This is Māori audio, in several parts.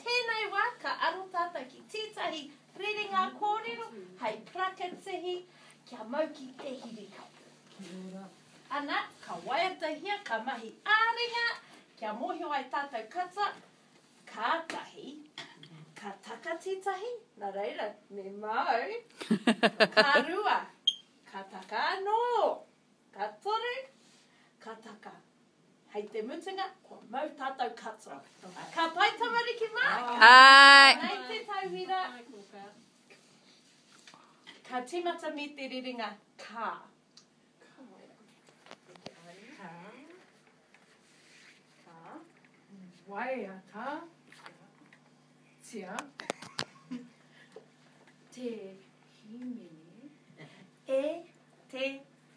tēnei wā ka aro tātou ki tētahi rerenga kōrero hai prakatihi kia mau ki te hirikapu. Ana, ka waiatahia, ka mahi ā-ringa kia mōhio ai tātou kata, kātahi ka taka tētahi, nā reira, me māu, ka rua, ka taka anō, ka toru, ka taka. Hei te mutunga, kua mau tātou katoa. Ka pai tamariki mā? Āe! Nei te tauira. Ka tīmata me te rerenga kā. Waiatatia te hīmene e te.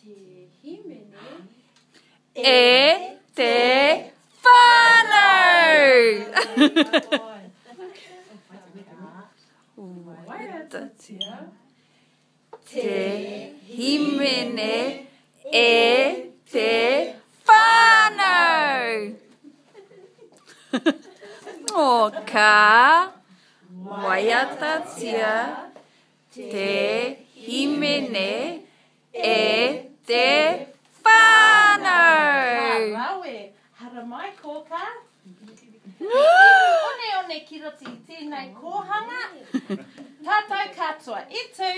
Te himene. E te whānau! Wairatatia. Te himene e te whānau! Oka. Waiatatia. Te himene e te whanau! Ka rawe! Haramai kōkā! He iwi oneone ki roto i tēnei kōhanga! Tātou katoa i tū!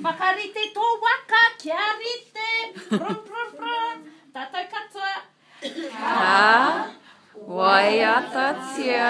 Whakarite tō waka kia rite! Brum brum brum! Tātou katoa! Ka waiatatia